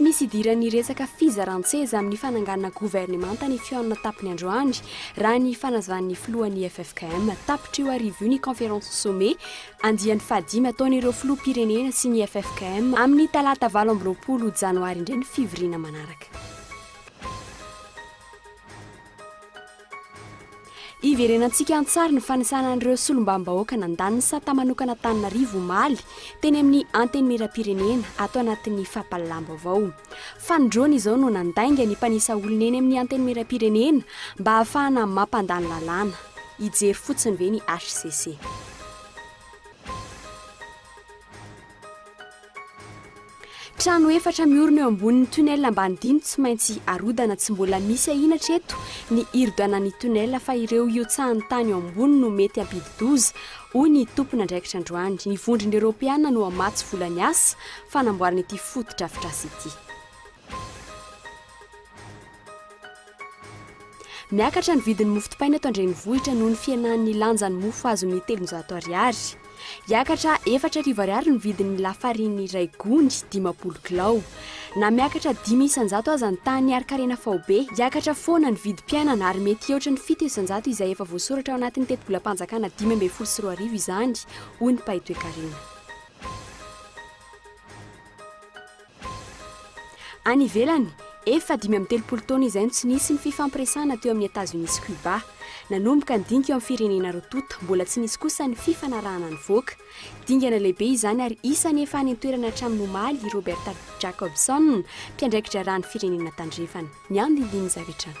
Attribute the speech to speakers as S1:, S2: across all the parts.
S1: Tsy misy idiran'ny resaka fizaran-tseza amin'ny fananganana governemanta ny fihaonana tapiny androany, raha ny fanazavan'ny filohan'ny FFKM. Tapitra io arivo io ny Conférence Sommet, andiany fahadimy ataon'ireo filoham-pirenena sy ny FFKM. Amin'ny talata valo amby roapolo janoary indray ny fivoriana manaraka. Hiverenantsika an-tsary ny fanisana an'ireo solombavambahoaka nandany ny sata manokana Antananarivo omaly teny amin'ny Antenimierampirenena ato anatin'ny fampahalalam-baovao. Fanindroany izao no nandainga ny mpanisa olona eny amin'ny Antenimierampirenena mba hahafahana mampandany lalàna. Hijery fotsiny ve ny hcc? Trano efatra miorina eo ambonin'ny tunnel ambany dino tsy maintsy arodana. Tsy mbola misy ahiana hatreto ny hirodanan'ny tunnel fa ireo hiotsahan'ny tany ao ambony no mety hampidi-doza, hoy ny tompon'andraikitra androany. Ny vondrona eoropeana no hamatsy vola ny asa fanamboarana ity fotodrafitrasa ity. Miakatra ny vidin'ny mofo dipaina eto an-drenivohitra noho ny fihenan'ny lanjan'ny mofo azon'ny telonjato ariary. Hiakatra efatra arivo ariary ny vidin'ny lafariny iray gony, dimampolo kilao. Na miakatra dimy isanjato aza ny tany ary karena faobe, hiakatra foana ny vidim-piainana ary mety hihoatra ny fito isanjato izay efa voasoratra ao anatin'ny tetibolam-panjakana dimy ambin'ny folo sy roa arivo izany, hoy ny mpahay toekarena. Any ivelany, efa dimy amby telopolo taona izay no tsy nisy ny fifampiresahana teo amin'i Etazonia sy Cuba. Nanomboka ny dinika eo amin'ny firenena roa tonta, mbola tsy nisy kosa ny fifanarahana nivoaka. Dingana lehibe izany ary isany efa any an-toerana hatramin'ny omaly i Roberta Jacobson, mpiandraikitra rà ny firenena tandrefana. Ny andinindininy izay avy hatrany.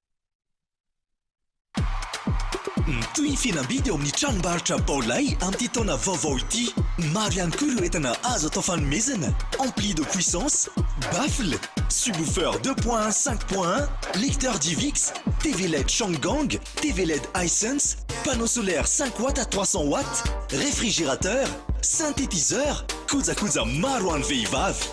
S2: Mitohy ny fihenam-bidy ao amin'ny tranombarotra Baolai amin'ity taona vaovao ity. Maro ihany koa ireo entana azo atao fanomezana, ampli de puissance, baffle, subwoofer deux point un, cinq point un, lecteur DivX, TV led Changgang, TV led Hisense, panneau solaire cinq watts à trois cents watts, réfrigérateur, synthétiseur, kojakoja maro ho an'ny vehivavy.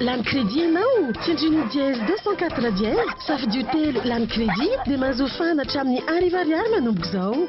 S3: Lany crédit ianao? Tsindrino dièse deux cent quatre dièse, safidio telo lany crédit dia mahazo fahana hatramin'ny Arivo Ariary manomboka izao.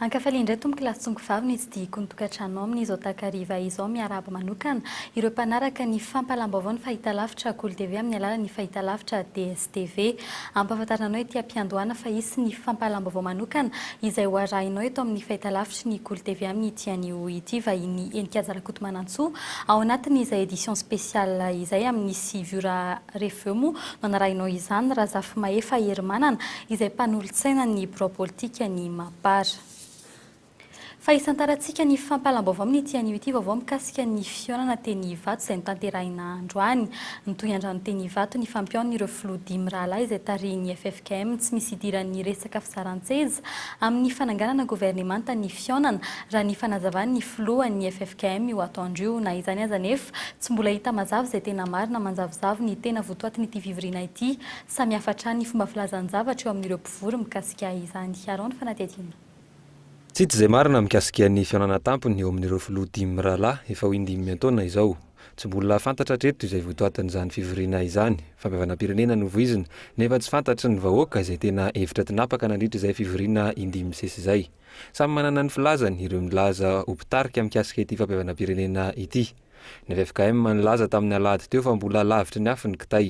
S4: Ankafaliana indray Tompo kilasy tsongo vavy ny tsidihiko ny tokantranonao amin izao takariva izao miarahaba manokana ireo mpanaraka ny fampalam-baovao ny fahitalavitra Kolo TV amin ny alalan ny fahitalavitra DSTV ampahafantarina anao ety ampiandohana fa hisy ny fampalam-baovao manokana izay ho arahinao eto amin ny fahitalavitry ny Kolo TV amin ity an io ity vahiny Heninkaja Rakotomanantsoa ao anatin izay edition spéciale izay amin ny sy vio raha Reveo moa manarahinao izany Razafimahefa Herimanana izay mpanolotsaina ny birao politika ny Mapar. Fa isantarantsika ny fampahalam-baovao amin'ity anio ity vaovao mikasika ny fihaonana teny Ivato izay notanterahina androany. Nitohy androany teny Ivato ny fampihaonan'ireo filoha dimy rahalahy izay tarihin'ny FFKM. Km tsy misy idiran'ny resaka fizaran-tseza amin'ny fananganana governemanta ny fihaonana, raha ny fanazavan'ny filohan'ny ffkm io atoandro io. Na izany aza anefa, tsy mbola hita mazava izay tena marina manjavozavo ny tena votoatin'ity fivoriana ity. Samihafa hatrany ny fomba filazan-javatra eo amin'ireo mpivory mikasika izany. Aaron Fanatihadiana. Tsy hita
S5: izay marina mikasika ny fihaonana tampony eo amin'ireo filoha dimy mirahalahy efa ho indimy an-taona izao. Tsy mbola fantatra hatreto izay votoatin'izany fivoriana izany. Fampihavanam-pirenena no voizina, nefa tsy fantatry ny vahoaka izay tena hevitra tinapaka nandritra izay fivoriana indimy misesy izay. Samy manana ny filazany ireo nilaza ho mpitarika mikasika ity fampihavanam-pirenena ity. Ny ffkm nilaza tamin'ny alahady teo fa mbola lavitry ny afo ny kitay.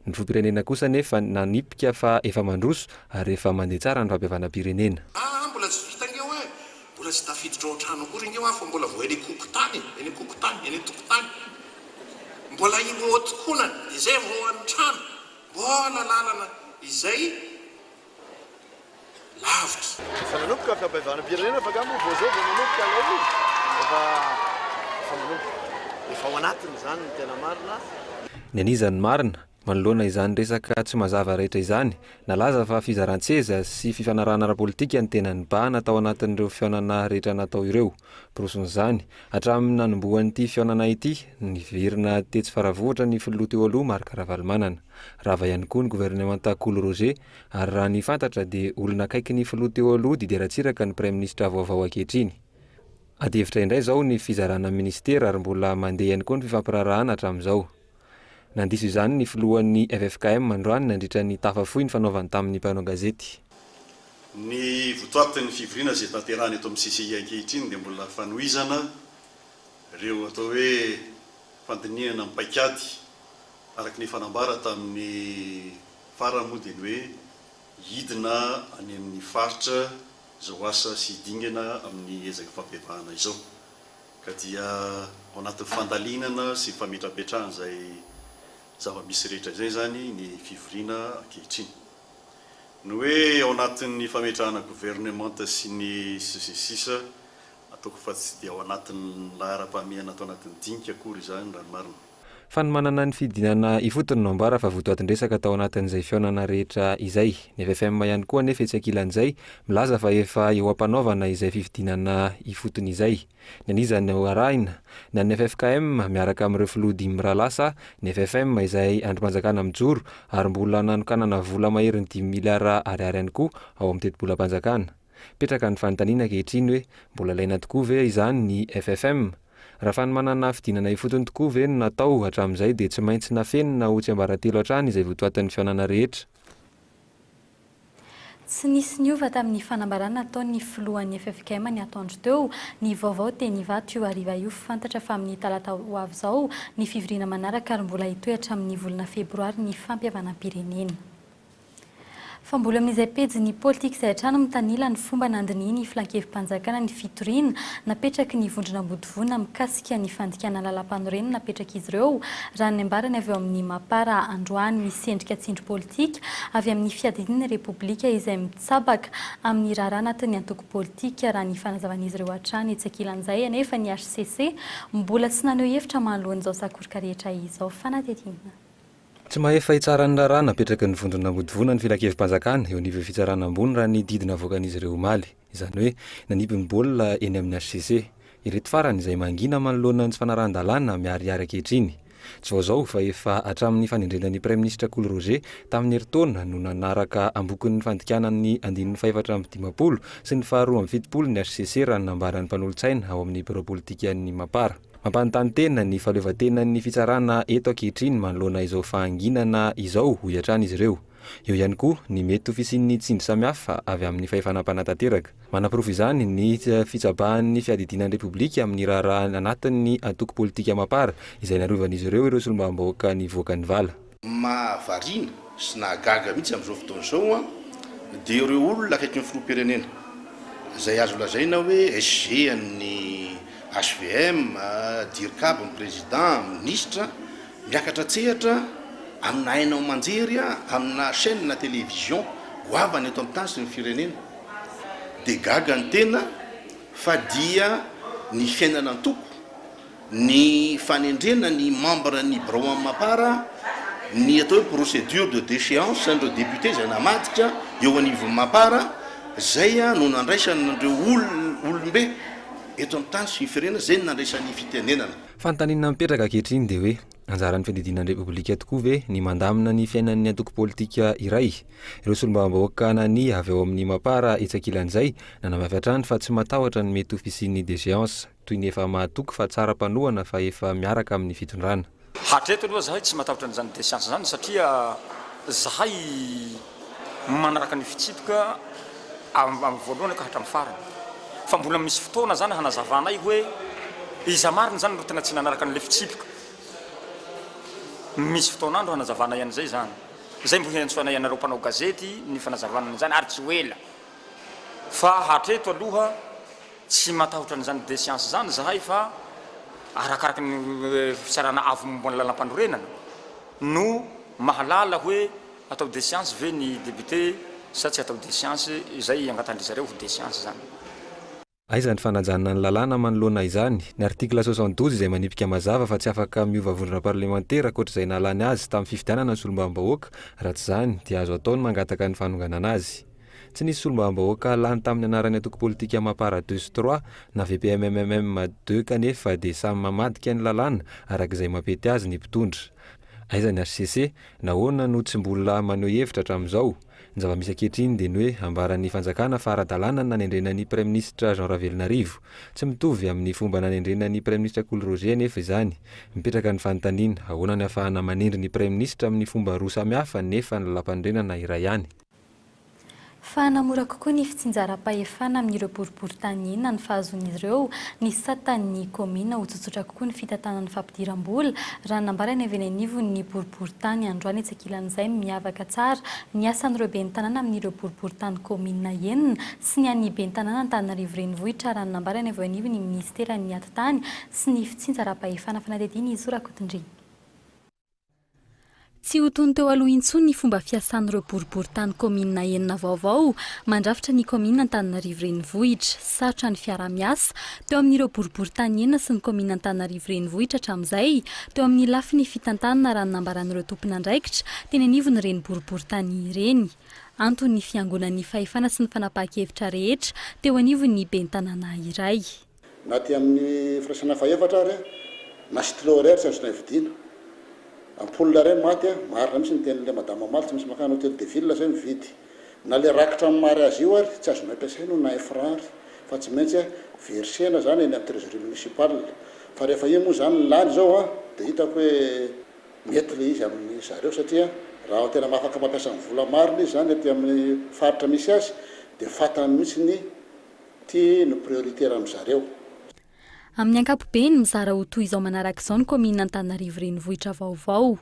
S5: Ny filoham-pirenena kosa anefa nanipika fa efa mandroso ary efa mandeha tsara ny fampihavanam-pirenena. Aa mbola tsy vita nge oa e!
S6: Mbola tsy tafiditra ao an-trano akory nge oa fa mbola vao eny an-kokotany e! Eny an-kokotany, eny an-tokotany. Mbola ireo ao an-tokonana, izay vao any an-trano. Mbola lalana izay. lavitra. Efa nanomboka
S7: fiampihavanam-pirenena fa nga moa vao zao vao manomboka ilay izy? Efa, efa manomboka. Efa ao anatiny izany ny tena marina. Ny an'iza
S5: no marina? Manoloana izany resaka tsy mazava rehetra izany, nalaza fa fizaran-tseza sy fifanarahana ara-politika no tena nibahana tao anatin'ireo fihaonana rehetra natao ireo. Porofon'izany, hatramin'ny nanombohan'ity fihaonana ity, niverina tetsy Faravohitra ny filoha teo aloha Marc Ravalomanana. Rava ihany koa ny governemanta Kolo Roger ary raha ny fantatra dia olona akaiky ny filoha teo aloha Didier Ratsiraka ny praiminisitra vaovao ankehitriny. Adihevitra indray izao ny fizarana minisitera ary mbola mandeha ihany koa ny fifampiraharahana hatramin'izao. Nandiso izany ny filohan'ny ffkm androany nandritra ny tafa fohy nifanaovany tamin'ny mpanao gazety. Ny
S8: votoatin'ny fivoriana izay tanterahana eto amin'ny CCI ankehitriny dia mbola fanohizana ireo atao hoe fandinihana amin'ny paik'ady araka ny efa nambara tamin'ny farany moa dia ny hoe hidina any amin'ny faritra izao asa sy dingana amin'ny ezaka fampihevahana izao. ka dia ao anatin'ny fandalinana sy fametrapetrahana izay zava-misy rehetra izay izany ny fivoriana ankehitriny. Ny hoe ao anatin'ny fametrahana governemanta sy ny sisa sy ny sisa, ataoko fa tsy dia ao anatin'ny laharam-pahamehana ato anatin'ny dinika akory izany raha ny marina. Fanomanana ny
S5: fidinana ifotony no ambara fa votoatin-dresaka tao anatin'izay fihaonana rehetra izay. Ny ffm ihany koa anefa etsy ankilan'izay, milaza fa efa eo am-panaovana izay fifidianana ifotony izay. Ny an'iza no arahina? Ny an'ny ffkm, miaraka amin'ireo filoha dimy mirahalahy sa ny ffm izay andrim-panjakana mijoro ary mbola nanokanana vola maherin'ny dimy miliara ariary ihany koa ao amin'ny tetibolam-panjakana? Mipetraka ny fanontaniana ankehitriny hoe mbola ilaina tokoa ve izany ny FFM? Raha fanomanana fidinana ifotony tokoa ve no natao hatramin'izay dia tsy maintsy nafenina ho tsiambaratelo hatrany izay votoatin'ny fihaonana rehetra.
S4: Tsy nisy niova tamin'ny fanambarana nataon'ny filohan'ny ffkm ny atoandro teo. Ny vaovao teny Ivato io hariva io fantatra fa amin'ny talata ho avy izao ny fivoriana manaraka ary mbola hitohy hatramin'ny volana febroary ny fampihavanam-pirenena. Fa mbola amin'izay pejin'ny politika izay hatrany mitanila ny fomba nandinihin'ny Filankevi-panjakana ny fitoriana napetraky ny vondron'Ambodivona mikasika ny fandikana lalàmpanorenana napetrak'izy ireo, raha ny nambarany avy ao amin'ny Mapar androany. Misy endrika tsindry politika avy amin'ny fiadidiana ny Repoblika izay mitsabaka amin'ny raharaha anatin'ny antoko politika, raha ny fanazavan'izy ireo hatrany. Etsy ankilan'izay anefa, ny hcc mbola tsy naneho hevitra mahaloan'izao sakoroka rehetra izao fanadihadiana. Tsy mahefa
S5: hitsara ny raharaha napetraky ny vondrona mampodivona ny filankevi-panjakana eo anivon'ny fitsarana ambony raha ny didy navoakan'izy ireo omaly. Izany hoe, nanipy ny baolina eny amin'ny hcc. Ireto farany izay mangina manoloana ny tsy fanarahan-dalàna miharihary ankehitriny. Tsy vao izao fa efa hatramin'ny fanendrena ny praiminisitra Kolo Roger tamin'ny herintaona no nanaraka am-bokin'ny fandikana ny andininy fahefatra amby dimampolo sy ny faharoa amby fitopolo ny hcc raha ny nambaran'ny mpanolotsaina ao amin'ny birao politikan'ny Mapar. Mampanontany tena ny fahaleovantenan'ny fitsarana eto ankehitriny manoloana izao fahanginana izao, hoy hatrany izy ireo. Eo ihany koa ny mety ho fisian'ny tsindry samihafa avy amin'ny fahefana mpanatanteraka. Manaporofo izany ny fitsabahan'ny fiadidiana ny Repoblika amin'ny raharaha anatin'ny antoko politika Mapar, izay narovany izy ireo ireo solombavambahoaka nivoaka ny vala. Mahavariana
S6: sy nahagaga mihitsy amin'izao fotoana izao dia ireo olona akaiky ny filoham-pirenena izay azo lazaina hoe SG an'ny HVM, Dircab ny Président, Minisitra, miakatra an-tsehatra amina haino aman-jery amina chaîne télévision goavana eto amin'ny tany sy ny firenena dia gaga ny tena fa dia ny fiainana an-toko Ny fanendrena ny membres ny birao amin'ny Mapar, ny atao hoe procédure de déchéance an'ireo députés izay namadika eo anivon'ny Mapar, izay no nandraisany an'ireo olona, olom-be eto amin'ny tany sy ny firenena, izay no nandraisany ny fitenenana. Fanontaniana mipetraka
S5: ankehitriny dia hoe, anjaran'ny fiadidiana ny Repoblika tokoa ve ny mandamina ny fiainan'ny antoko politika iray? Ireo solombavambahoaka nania avy ao amin'ny Mapar etsy ankilan'izay nanamafy hatrany fa tsy matahotra ny mety ho fisian'ny déchéance. Toy ny efa mahatoky fa tsara mpanohana fa efa miaraka amin'ny fitondrana. Hatreto aloha zahay
S9: tsy matahotra an'izany desiansa zany satria zahay manaraka ny fitsipika avy amin'ny voalohany ka hatramin'ny farany. Fa mbola misy fotoana zany hanazavanay hoe iza marina zany no tena tsy nanaraka an'ilay fitsipika. Misy fotoan'andro hanazavanay an'izay zany. Zay mbo hiantsoanay anareo mpanao gazety ny fanazavana an'izany ary tsy ho ela. Fa hatreto aloha Tsy matahotra an'izany desiansa izany izahay fa arakaraka ny fitsarana avo momba ny lalampanorenana no mahalala hoe atao desiansa ve ny depiote sa tsy atao desiansa izay iangatan-dry zareo ho desiansa izany. Aiza
S5: ny fanajana ny lalàna manoloana izany? Ny article soixante douze izay manipika mazava fa tsy afaka miova vondrona parlemantera ankoatr'izay nahalany azy tamin'ny fifidianana ny solombavambahoaka, raha tsy izany dia azo atao ny mangataka ny fanonganana azy. Tsy nisy solombavambahoaka lany tamin'ny anaran'ny antoko politika Mapar Douce Trois na VPMMM Deux kanefa dia samy mamadika ny lalàna araka izay mampety azy ny mpitondra. Aiza ny hcc? Nahoana no tsy mbola maneho hevitra hatramin'izao? Ny zava-misy ankehitriny dia ny hoe ambaran'ny fanjakana fa ara-dalàna ny nanendrena ny praiminisitra Jean Ravelonarivo. Tsy mitovy amin'ny fomba nanendrena ny praiminisitra Kolo Roger anefa izany. Mipetraka ny fanontaniana, ahoana ny ahafahana manendry ny praiminisitra amin'ny fomba roa samihafa nefa ny lapanondrenana iray ihany?
S4: Fa hanamora kokoa ny fitsinjaram-pahefana amin'ireo boriborintany inona ny fahazoan'izy ireo, ny satan'ny kaominina ho tsotsotra kokoa ny fitantanana fampidiram-bola, raha nambara ny avy eny anivon'ny boriborintany androany etsy ankilan'izay miavaka tsara ny asan'ireo ben'ny tanàna amin'ireo boriborintany kaominina enina sy ny an'ny ben'ny tanàna Antananarivo Renivohitra raha ny nambara ny avy eo anivon'ny minisiteran'ny atitany sy ny fitsinjaram-pahefana fanadihadiana Izy Rakotondriana. Tsy ho toy ny teo aloha intsony ny fomba fiasan'ireo boriborintany kaominina enina vaovao mandrafitra ny kaominina Antananarivo Renivohitra. Sarotra ny fiaraha-miasa teo amin'ireo boriborintany enina sy ny kaominina Antananarivo Renivohitra hatramin'izay teo amin'ny lafiny fitantanana raha ny nambaran'ireo tompon'andraikitra teny anivon'ireny boriborintany ireny. Anton'ny fiangonan'ny fahefana sy ny fanapahan-kevitra rehetra teo anivon'ny ben'ny tanàna iray. Na aty amin'ny
S6: firaisana fahefatra ary, na stylo iray ary tsy azo taividiana. Ampoule iray maty a, marina mihitsy ny tenin'ilay madame mamaly, tsy maintsy mankany hotel de ville zay mividy. Na le rakitra amin'ny mariazy io ary tsy azonay ampiasaina io na un franc ary, fa tsy maintsy a versena zany eny amin'ny trésorerie municipale. Fa rehefa io moa zany lany zao a, de hitako hoe mety le izy amin'ny zareo satria raha tena mahafaka mampiasa ny vola marina izy zany aty amin'ny faritra misy azy de fantany mihitsy ny Ity no priorité raha mizareo. Amin'ny
S4: ankapobeny, mizara ho toy izao manaraka izao ny kaominina Antananarivo Renivohitra vaovao.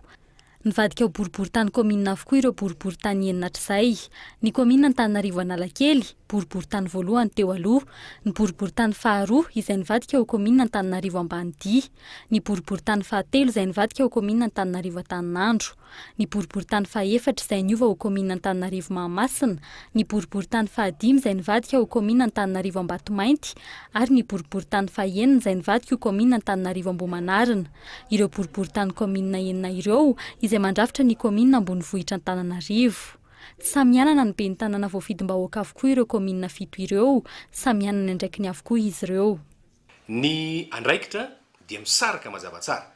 S4: Nivadika ho boriborintany kaominina avokoa ireo boriborintany enina hatrizay. Ny kaominina Antananarivo Analakely, boriborintany voalohany teo aloha. Ny boriborintany faharoa, izay nivadika ho kaominina Antananarivo Ambanidia. Ny boriborintany fahatelo, izay nivadika ho kaominina Antananarivo Antaninandro. ny boriborintany fahefatra izay niova ho kaominina Antananarivo Mahamasina, ny boriborintany fahadimy izay nivadika ho kaominina Antananarivo Ambatomainty ary ny boriborintany fahenina izay nivadika ho kaominina Antananarivo Ambohimanarina. Ireo boriborintany kaominina enina ireo izay mandrafitra ny kaominina ambonivohitra Antananarivo. Tsy samy hanana ny ben'ny tanàna voafidim-bahoaka avokoa ireo kaominina fito ireo, samy hanana ny andraikiny avokoa izy ireo. Ny
S10: andraikitra dia misaraka mazava tsara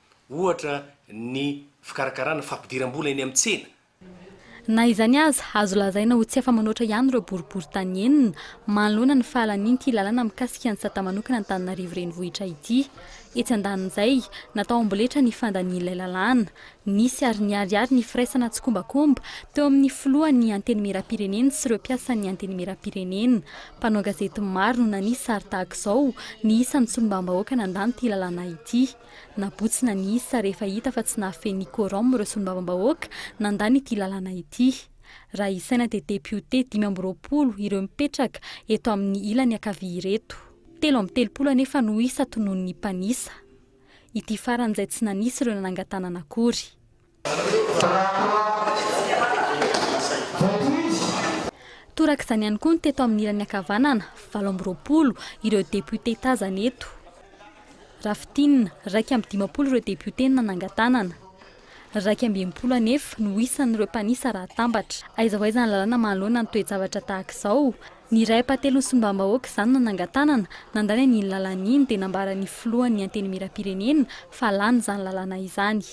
S10: ohatra ny fikarakarana fampidiram-bola eny amin'ny tsena. Na
S4: izany aza, azo lazaina ho tsy afa-manoatra ihany ireo boriborintany enina manoloana ny fahalanian'ity lalana mikasika ny sata manokana Antananarivo Renivohitra ity. Etsy andanin'izay, natao amboletra ny fandanian'ilay lalàna. Nisy ary niharihary ny firaisana tsikombakomba teo amin'ny filohan'ny Antenimierampirenena sy ireo mpiasan'ny Antenimierampirenena. Mpanao gazety maro no nanihy sary tahaka izao ny isan'ny solombavambahoaka nandany ity lalàna ity. Nabotsina ny isa rehefa hita fa tsy nahafehin'ny quorum ireo solombavambahoaka nandany ity lalàna ity. Raha isaina dia depiote dimy amby roapolo ireo mipetraka eto amin'ny ilany ankavia ireto. Telo amby telopolo anefa no isa tonon'ny mpanisa. Ity farany izay tsy nanisy ireo nanangan-tanana akory. Toraka izany ihany koa ny teto amin'ny ilany ankavanana, valo amby roapolo ireo depiote tazana eto. Raha fintinina, iraika amby dimampolo ireo depiote no nanangan-tanana. Iraika amby enimpolo anefa no isan'ireo mpanisa raha atambatra. Aiza ho aiza ny lalàna manoloana ny toe-javatra tahaka izao? Ny iray ampahatelon'ny solombavambahoaka izany no nanangan-tanana, nandany an'iny lalàna iny dia nambaran'ny filohan'ny Antenimierampirenena fa lany izany lalàna izany.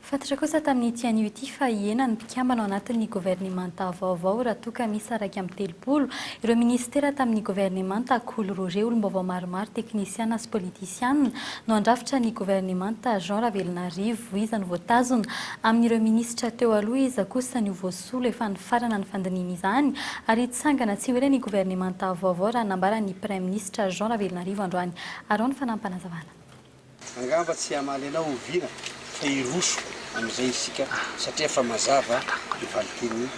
S4: Fantatra kosa tamin'ity anio ity fa hihena ny mpikambana ao anatin'ny governemanta vaovao raha toa ka miisa iraika amby telopolo ireo minisitera tamin'ny governemanta Akolorore. Olom-baovao maromaro, teknisiana sy politisiana no handrafitra ny governemanta Jean Ravelonarivo. Voiza no voatazona? Amin'ireo minisitra teo aloha, iza kosa no voasolo? Efa nifarana ny fandinihina izany ary hitsangana tsy ho ela ny governemanta vaovao raha nambaran'ny praiminisitra Jean Ravelonarivo androany. Arao ny fanahy-panazavana. Angamba
S11: tsy hamaly anao ho vina fa hiroso amin'izay isika satria efa mazava ny valin-teny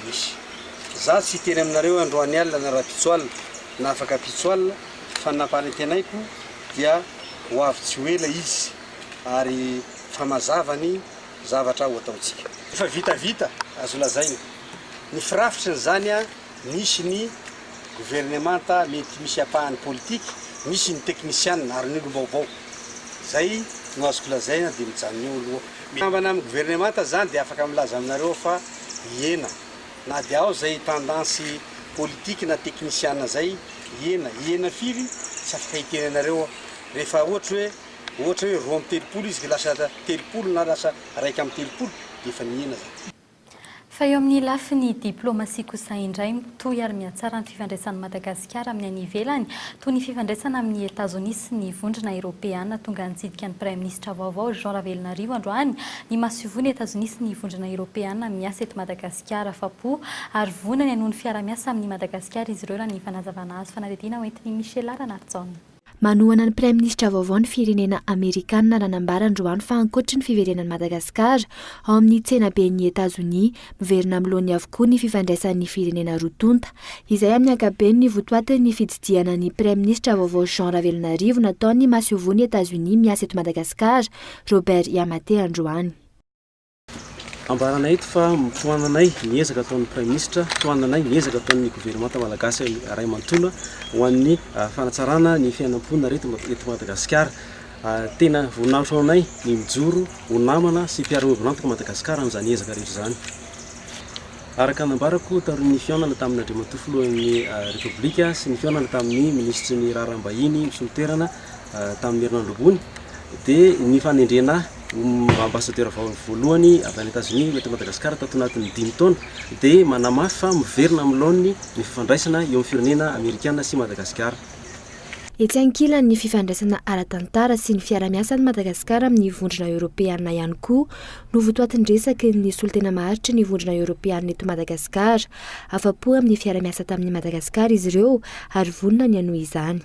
S11: misy. Za tsy hiteny aminareo androany alina na rapitso alina na afaka pitso alina fa ny nampanentenaiko dia ho avy tsy ho ela izy ary fa mazava ny zavatra ho ataontsika. Efa vitavita azo lazaina ny firafitry ny zany a! Misy ny governemanta mety misy ampahany politika, misy ny teknisianina ary ny olom-baovao. Izay no azoko lazaina dia mijanona eo aloha. Mikambana amin'ny governemanta izany dia afaka milaza aminareo aho fa hiena. Na dia ao izay tendansy politika na teknisianina izay, hiena. Hiena firy? Tsy afaka hiteny anareo aho. Rehefa ohatra hoe, ohatra hoe roa amby telopolo izy ka lasa telopolo na lasa raika amby telopolo dia efa nihena izany. Fa eo
S4: amin'ny lafiny diplaomasia kosa indray, mitohy ary mihatsara ny fifandraisan'i Madagasikara amin'ny any ivelany, toy ny fifandraisana amin'i Etazonia sy ny Vondrona Eropeana. Tonga nitsidika ny Praiminisitra vaovao Jean Ravelonarivo androany ny masoivohon'i Etazonia sy ny Vondrona Eropeana miasa eto Madagasikara. Afa-po ary vonona ny hanohy ny fiaraha-miasa amin'i Madagasikara izy ireo, raha ny fanazavana azo fanadihadiana hoentin'i Michela Ranarijaona. Manohana ny
S12: Praiminisitra vaovao ny firenena Amerikana raha nambara androany fa ankoatry ny fiverenan'i Madagasikara ao amin'ny tsenaben'i Etazonia, miverina amin'ny laoniny avokoa ny fifandraisan'ny firenena roa tonta. Izay amin'ny ankapobeny ny votoatin'ny fitsidihana ny Praiminisitra vaovao Jean Ravelonarivo nataon'ny masoivohon'i Etazonia miasa eto Madagasikara, Robert Yamate androany.
S1: Ambaranay eto fa tohananay ny ezaka ataon'ny Praiminisitra, tohananay ny ezaka ataon'ny governemanta malagasy iray manontolo ho an'ny fanatsarana ny fiainam-ponina reto eto Madagasikara. Tena voninahitra ho anay ny mijoro ho namana sy mpiara-miombon'antoka i Madagasikara amin'izany ezaka rehetra izany. Araka ny nambarako taorian'ny fihaonana tamin'Andriamatoa Filohan'ny Repoblika sy ny fihaonana tamin'ny Minisitry ny Raharaham-bahiny misolo toerana, tamin'ny herinandro ambony dia ny fanendrena ho ambassadeur voalohany avy any Etazonia eto Madagasikara tato anatin'ny dimy taona dia manamafy fa miverina amin'ny laoniny ny fifandraisana eo amin'ny firenena Amerikana sy Madagasikara. Etsy
S12: ankilany, ny fifandraisana ara-tantara sy ny fiarahamiasan'i Madagasikara amin'ny Vondrona Eoropeana ihany koa no votoatin'ny resaky ny solontena maharitry ny Vondrona Eoropeana eto Madagasikara. Afa-po amin'ny fiarahamiasa tamin'i Madagasikara izy ireo ary vonona ny hanohy izany.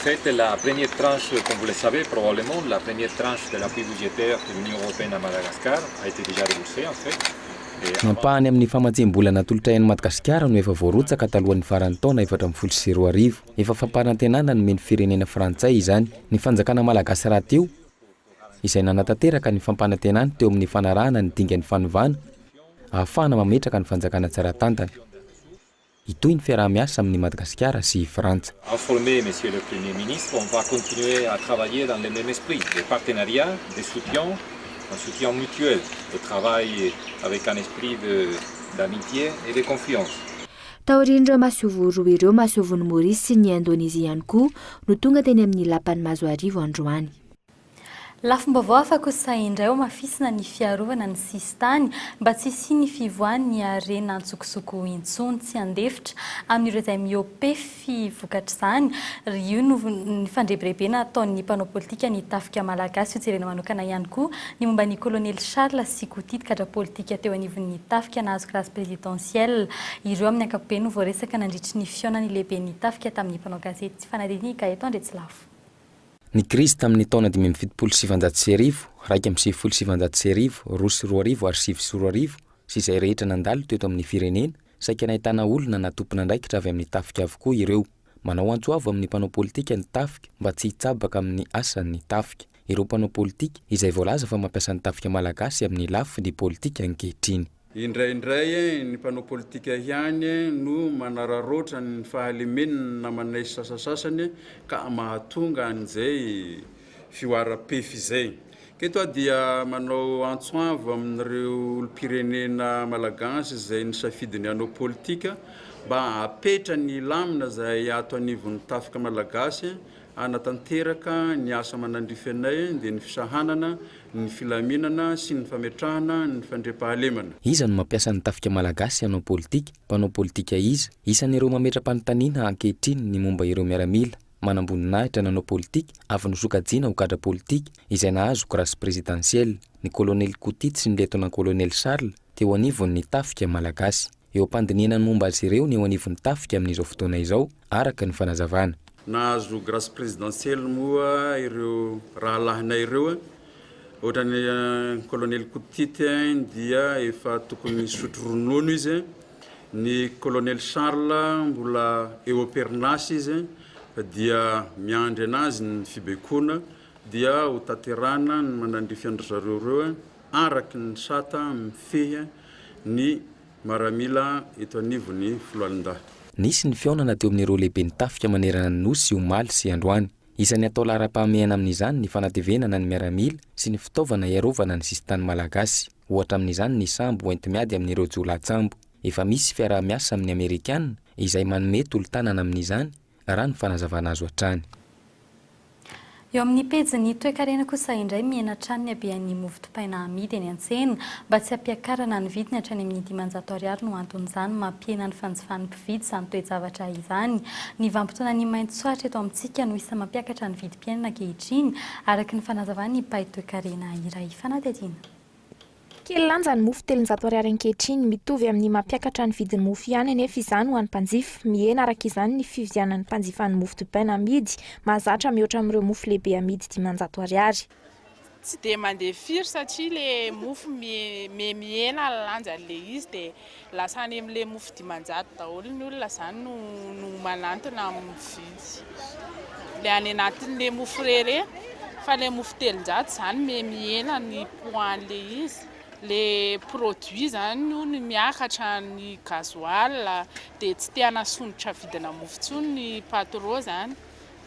S12: Faites la
S13: première tranche comme vous le savez probablement la première tranche de l'appui budgétaire de l'Union européenne à Madagascar a été déjà remboursée en fait et Ny ampahany
S5: amin'ny famatsiam-bola natolotra an'i Madagasikara no efa voarotsaka talohan'ny faran'ny taona efatra ambin'ny folo sy roa arivo. Efa fampanantenana nomen'ny firenena frantsay izany ny fanjakana malagasy rahateo izay nanatanteraka ny fampanantenany teo amin'ny fanarahana ny dingan'ny fanovana ahafahana mametraka ny fanjakana tsara tantana. Hitohy ny fiaraha-miasa amin'i Madagasikara sy i Frantsa. Informer Monsieur le
S13: Premier Ministre, on va continuer à travailler dans le même esprit de partenariat, de soutien, un soutien mutuel, de travail avec un esprit de d'amitié et de confiance. Taorian'ireo
S12: masoivoho roa ireo, masoivohon'i Maorisy sy ny Indonezia ihany koa no tonga teny amin'ny Lapan'i Mazoarivo androany.
S4: Lafim-baovao hafa kosa indray hamafisina ny fiarovana ny sisintany mba tsy hisian'ny fivoahan'ny harena an-tsokosoko intsony. Tsy handefitra amin'ireo izay miopefy vokatr'izany. Io no fandrebirebena ataon'ny mpanao politika ny tafika malagasy. Ho jerena manokana ihany koa ny momba an'i Kolonely Charles Sikotidy, gadra politika teo anivon'ny tafika nahazo grâce présidentielle. Ireo amin'ny ankapobeny no voaresaka nandritry ny fihaonan'ny lehiben'ny tafika tamin'ny mpanao gazety. Tsy fanadino i Gaëtan Andriatsilafo. Ny
S5: krizy tamin' ny taona dimy amby fitopolo sy sivanjato sy arivo, raika amby sivifolo sy sivanjato sy arivo, roa sy roa arivo ary sivy sy roa arivo, sy izay rehetra nandalo teto amin' ny firenena, saika nahitana olona na tompon' andraikitra avy amin' ny tafika avokoa ireo. Manao antso avo amin' ny mpanao pôlitika ny tafika mba tsy hitsabaka amin' ny asan' ny tafika ireo mpanao pôlitika izay voalaza fa mampiasa ny tafika malagasy amin' ny lafiny pôlitika ankehitriny. Indraindray
S14: ny mpanao politika ihany no manararaotra ny fahalemen'ny namanay sasasasany ka mahatonga an'izay fihoaram-pefy izay. Ka eto aho dia manao antso avo amin'ireo olom-pirenena malagasy izay nisafidy ny hanao politika mba hapetra ny lamina izay ato anivon'ny tafika malagasy Hanatanteraka ny asa aman'andrify anay dia ny fisahanana, ny filaminana sy ny fametrahana ny fandriampahalemana. Iza no mampiasa ny
S15: tafika malagasy hanao politika? Mpanao politika iza? Isan'ireo mametra-panontaniana ankehitriny ny momba ireo miaramila manamboninahitra nanao politika avy nosokajiana ho gadra politika izay nahazo grâce présidentielle, ny kolonely Kotidy sy ny lietona-kolonely Charles teo anivon'ny tafika malagasy. Eo am-pandinihana ny momba azy ireo ny eo anivon'ny tafika amin'izao fotoana izao, araka ny fanazavana. Nahazo grâce
S14: présidentielle moa ireo rahalahinay ireo a! Ohatran'ny Colonel Kotite any dia efa tokony nisotro ronono izy a! Ny Colonel Charles mbola eo am-perinasa izy a! Dia miandry anazy ny fibaikoana dia ho tanterahana ny manandrify an-dry zareo ireo a! araky ny sata mifehy ny maramila eto anivon'ny foloalindahy. Nisy ny fihaonana
S15: teo amin'ireo lehiben'ny tafika manerana ny Nosy omaly sy androany. Isan'ny atao laharam-pahamehana amin'izany ny fanatevenana ny miaramila sy ny fitaovana hiarovana ny sisin-tany malagasy. Ohatra amin'izany ny sambo hoenti-miady amin'ireo jiolahy tsambo. Efa misy fiaraha-miasa amin'ny Amerikana izay manome tolo-tanana amin'izany raha ny fanazavana azo hatrany.
S4: Eo amin'ny pejin'ny toekarena kosa indray mihena hatrany ny habehan'ny mofo dipaina amidy eny an-tsena. Mba tsy hampiakarana ny vidiny hatrany amin'ny dimanjato ariary no anton'izany mampihena ny fanjifan'ny mpividy izany toe-javatra izany. Ny vanimpotoanan'ny main-tsoatra eto amintsika no isan'ny mampiakatra ny vidim-piainana ankehitriny, araka ny fanazavan'ny mpahitoekarena iray. Fanadihadiana. Kely
S16: lanja ny mofo telonjato ariary ankehitriny. Mitovy amin'ny maha mpiakatra ny vidin'ny mofo ihany anefa izany ho an'ny mpanjifa. Mihena araka izany ny fividianan'ny mpanjifa ny mofo dipaina amidy mahazatra mihoatra amin'ireo mofo lehibe amidy dimanjato ariary. Tsy dia
S17: mandeha firy satria ilay mofo mihena lanja an'ilay izy dia. Lasa any amle mofo dimanjato daholo ny olona zany no no manantona am mividy le any anatinle mofo re re fa le mofo telonjato zany me mihena ny poids anle izy le produit zany no ny miakatra ny gasoil de tsy te anasondrotra vidina mofo tsony ny patro zany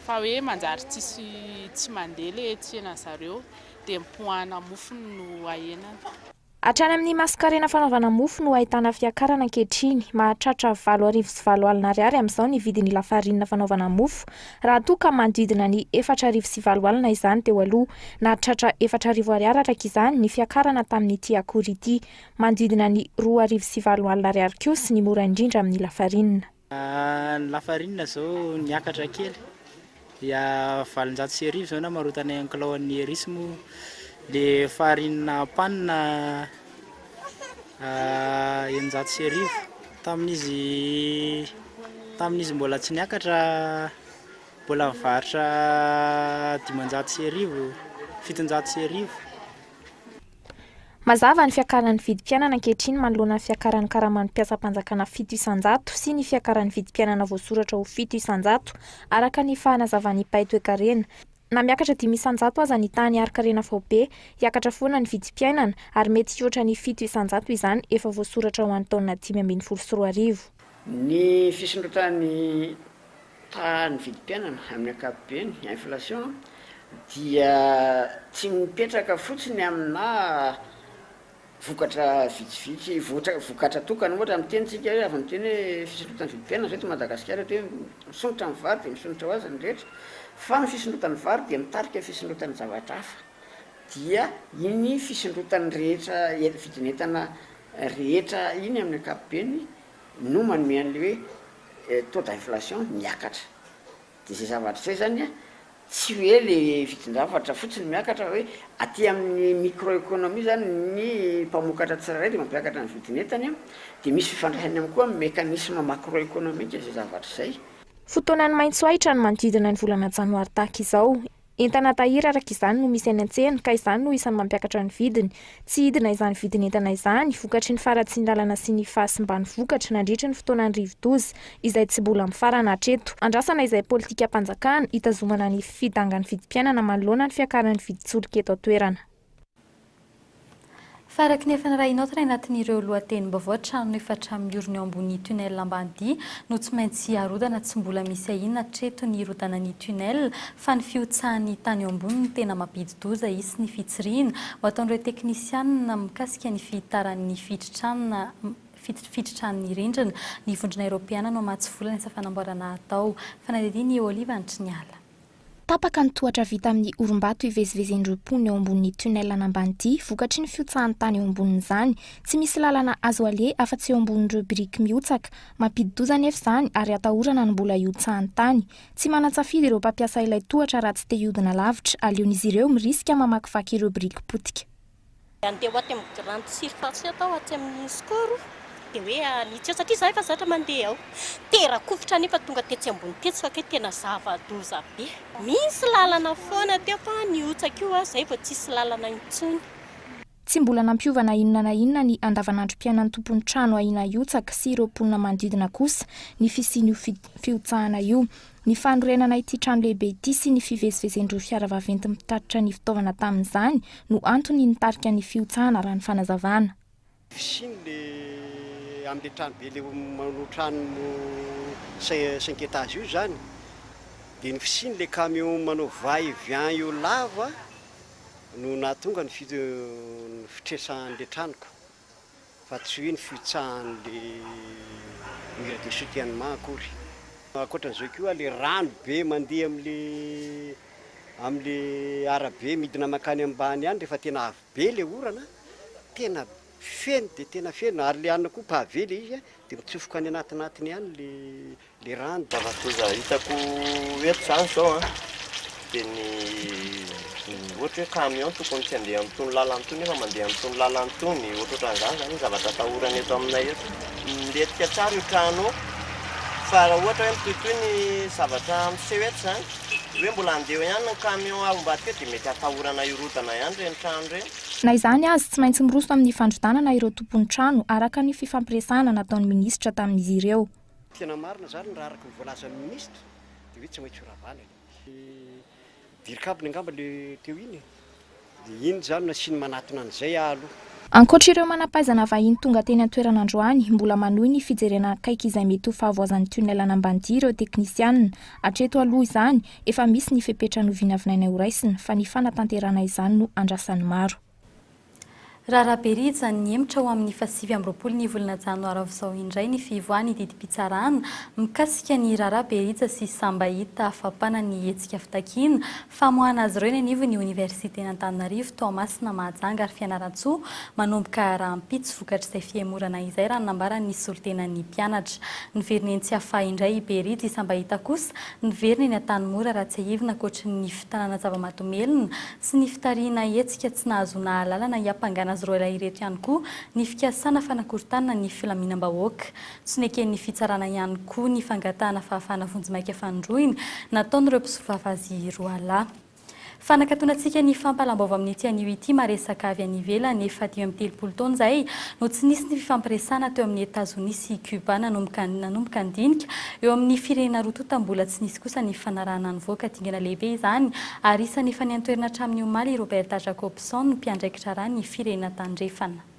S17: fa hoe manjary tsisy tsy mande le tsena zareo de ny poids ana mofo no ahenany. Hatrany amin'ny
S16: masonkarena fanaovana mofo no ahitana fiakarana ankehitriny. Mahatratra valo arivo sy valo alina ariary amin'izao ny vidin'ny lafarinina fanaovana mofo, raha toa ka manodidina ny efatra arivo sy valo alina izany teo aloha. Nahatratra efatra arivo ariary araka izany ny fiakarana tamin'ity akora ity. Manodidina ny roa arivo sy valo alina ariary kosa ny mora indrindra amin'ny lafarinina. Ny
S18: lafarinina izao niakatra kely dia valonjato sy arivo izao namarotanay an'i kilaon'ny Eris moa ilay farinina pan eninjato sy arivo. Tamin'izy tamin'izy mbola tsy niakatra mbola nivarotra dimanjato sy arivo, fitonjato sy arivo.
S16: Mazava ny fiakaran'ny vidim-piainana ankehitriny manoloana ny fiakaran'ny karaman'ny mpiasam-panjakana fito isan-jato sy ny fiakaran'ny vidim-piainana voasoratra ho fito isan-jato, araka ny fanazavan'ny mpay toekarena. Na miakatra dimy isan-jato aza ny tahan'ny harin-karena faobe, hiakatra foana ny vidim-piainana, ary mety hihoatra ny fito isan-jato izany efa voasoratra ho an'ny taona dimy ambin'ny folo sy roa arivo. Ny
S19: fisondrotran'ny Fa ny vidim-piainana amin'ny ankapobeny, inflation, dia tsy mipetraka fotsiny aminà vokatra vitsivitsy, ohatra vokatra tokana ohatra miteny tsika hoe avy miteny hoe fisondrotan'ny vidim-piainana izao eto Madagasikara eto hoe misondrotra ny vary dia misondrotra ho azy ny rehetra fa ny fisondrotan'ny vary dia mitarika fisondrotan'ny zavatra hafa dia iny fisondrotan'ny rehetra vidin'entana rehetra iny amin'ny ankapobeny no manome an'ilay hoe taux d'inflation miakatra de zay zavatra zay zany a tsy hoe le vidin-javatra fotsiny miakatra fa hoe aty amin'ny micro economie zany ny mpamokatra tsirairay de mampiakatra ny vidin'entany a de misy fifandraisany ihany koa amin'ny mécanisme macro economique zay zavatra zay. Fotoanan'ny
S16: maitsoahitra ny manodidina ny volana janoary tahaka izao. Entana tahiry araka izany no misy any an-tsena ka izany no isan'ny mampiakatra ny vidiny. Tsy hidina izany vidin'entana izany, vokatry ny faharatsian'ny lalana sy ny fahasimban'ny vokatra nandritry ny fotoanan'ny rivodoza izay tsy mbola mifarana hatreto. Andrasana izay politikam-panjakana hitazomana ny fidangan'ny vidim-piainana manoloana ny fiakaran'ny vidin-tsolika eto an-toerana.
S4: Fa araka ny efa nirahinao tray anatin'ireo lohatenim-baovao, trano efatra miorina eo ambony tunnel Ambanidia no tsy maintsy arodana, tsy mbola misy ahiana hatreto ny hirodanan'ny tunnel fa ny fihotsahan'ny tany eo ambony no tena mampidi-doza, hisy ny fitsirihina ho ataon'ireo teknisianina mikasika ny fihitaran'ny fitritran'ny rindrina. Ny vondrona eropeana no hamatsy vola ny asa fanamboarana hatao. Fanadihadian'i Olive Antriniala. Tapaka
S16: ny tohatra vita amin'ny orimbato ivezivezen'ireo mponina eo ambonin'ny tunnel an'Ambanidia vokatry ny fihotsahan'ny tany eo ambonin'izany. Tsy misy lalana azo aleha afa-tsy eo ambonin'ireo biriky mihotsaka. Mampidi-doza anefa izany ary atahorana ny mbola hihotsahan'ny tany. Tsy manan-tsafidy ireo mpampiasa ilay tohatra raha tsy te hihodina lavitra, aleon'izy ireo mirisika mamakivaky ireo biriky potika. Nandeha ho aty
S20: amin'ny grande surface aho tao atsy amin'ny Score dia hoe hanitsy eo satria izaho efa zatra mandeha ao. Tera-kovitra anefa tonga tetsy ambony tetsy fa kay tena zava-doza be. Misy lalana foana teo fa nihotsaka io aho izay vao tsisy lalana intsony. Tsy mbola
S16: nampiova na inona na inona ny andavanandrom-piainan'ny tompon'ny trano ahiana hihotsaka sy ireo mponina manodidina kosa ny fisian'io fihotsahana io. Ny fanorenana ity trano lehibe ity sy ny fivezivezen'ireo fiara vaventy mpitatitra ny fitaovana tamin'izany no antony nitarika ny fihotsahana raha ny fanazavana. Fisiany le
S7: amle trano be le manao trano cinq etage io zany de ny fisiany le camion manao va et vient io lava no nahatonga ny fitresan'le trano ka. fa tsy hoe ny fihotsahan'le mur de soutiennement akory. Ankoatran'izay koa le rano be mandeha amle amle arabe midina mankany ambany any rehefa tena avy be le orana tena feno dia tena feno ary le any koa pavé le izy dia mitsofoka any anatinatiny any le Le rano zava-doza hitako
S21: eto zany zao an, de ny ohatra hoe camion tokony tsy handeha amin'itony lalana itony nefa mandeha amin'itony lalana itony, ohatrohatran'izany zany ny zavatra atahorana eto aminay eto. Milentika tsara io trano io, fa raha ohatra hoe mitohitohy ny zavatra miseho eto zany, hoe mbola handeha eo ihany ny camion avy ambadika eo dia mety atahorana hirodana ihany ireny trano ireny. Na izany azy, tsy
S16: maintsy miroso amin'ny fandrodanana ireo tompon'ny trano araka ny fifampiresahana nataon'ny minisitra tamin'izy ireo. Tena marina zany
S7: raha araka ny voalazan'ny ministra de hoe tsy maintsy ho ravana e. Dirikabony angamba le teo iny e. De iny zany no nasiany manatona an'izay aho aloha. Ankoatra ireo
S16: manampahaizana vahiny tonga teny an-toerana androany, mbola manohy ny fijerena akaiky izay mety ho fahavoazan'ny tunnel an'Ambanidia ireo teknisianina. Hatreto aloha izany, efa misy ny fepetra novinavinaina horaisina, fa ny fanatanterahana izany no andrasan'ny maro. Raharaha be rija
S4: ny hemotra ho amin'ny fahasivy amby roapolo ny volana janoary ao izao indray ny fihivoahan'ny didim-pitsarana mikasika ny raharaha be rija sy samba hita hafampana ny hetsika fitakiana famoahana azy ireo eny anivon'ny oniversiten'Antananarivo Toamasina Mahajanga ary Fianarantsoa manomboka rahampitso vokatr'izay fihemorana izay raha ny nambaran'ny solontenan'ny mpianatra niverina eny Tsiafahy indray i Berija i Sambahita kosa niverina eny Antanimora raha tsiahivina ankoatry ny fitanana zava-mahadomelina sy ny fitarihina hetsika tsy nahazoana alalana hiampangana azy roalahy ireto ihany koa ny fikasana fanakorontanana ny filaminam-bahoaka. Tsy neken'ny fitsarana ihany koa ny fangatahana fahafahana vonjimaika fanindroiny nataon'ireo mpisovava azy roalahy. Fanakatonantsika ny fampahalam-baovao amin'ity anio ity maresaka avy any ivelany efa dimy amby telopolo taona izay no tsy nisy ny fifampiresahana teo amin'ny Etazonia sy Cuba nanomboka nanomboka ny dinika eo amin'ny firenena roa tonta mbola tsy nisy kosa ny fanarahana nivoaka dingana lehibe izany Ary isany efa niantoerana hatramin'ny omaly i Roberta Jacobson, mpiandraikitra rà ny Firenena Tandrefana.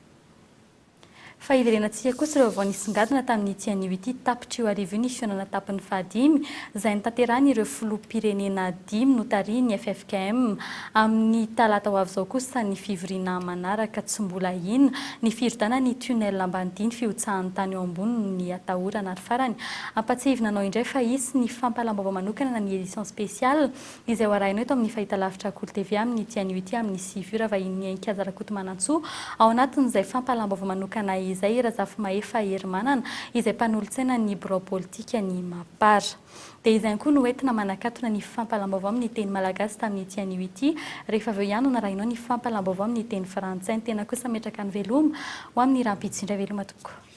S4: Fa hiverenantsika kosa ireo vao nisongadina tamin'ity anio ity tapitr'io hariva io ny fihaonana tapiny fahadimy izay notanterahin'ireo Filoham-pirenena dimy notarihin'ny ffkm. Amin'ny talata ho avy izao kosa ny fivoriana manaraka tsy mbola hino ny firodana ny tunnel Ambanidia ny fihotsahan'ny tany eo ambonin'ny atahorana ary farany hampatsiahivina anao indray fa hisy ny fampahalam-baovao manokana na ny edition spéciale izay ho arahina eto amin'ny fahitalavitra Akolo TV amin'ny ity anio ity amin'ny sivy ora, vahinin'i Heninkaja Rakotomanantsoa. Ao anatin'izay fampahalam-baovao manokana izay i Razafimahefa Herimanana, izay mpanolotsainan'ny birao politikan'ny Mapar. Dia izay ihany koa no entina manakatona ny fampahalam-baovao amin'ny teny malagasy tamin'ity anio ity, rehefa avy eo ihany no narahinao ny fampahalam-baovao amin'ny teny frantsay. Ny tena kosa miatraka ny veloma ho amin'ny rahampitso indray veloma tompoko.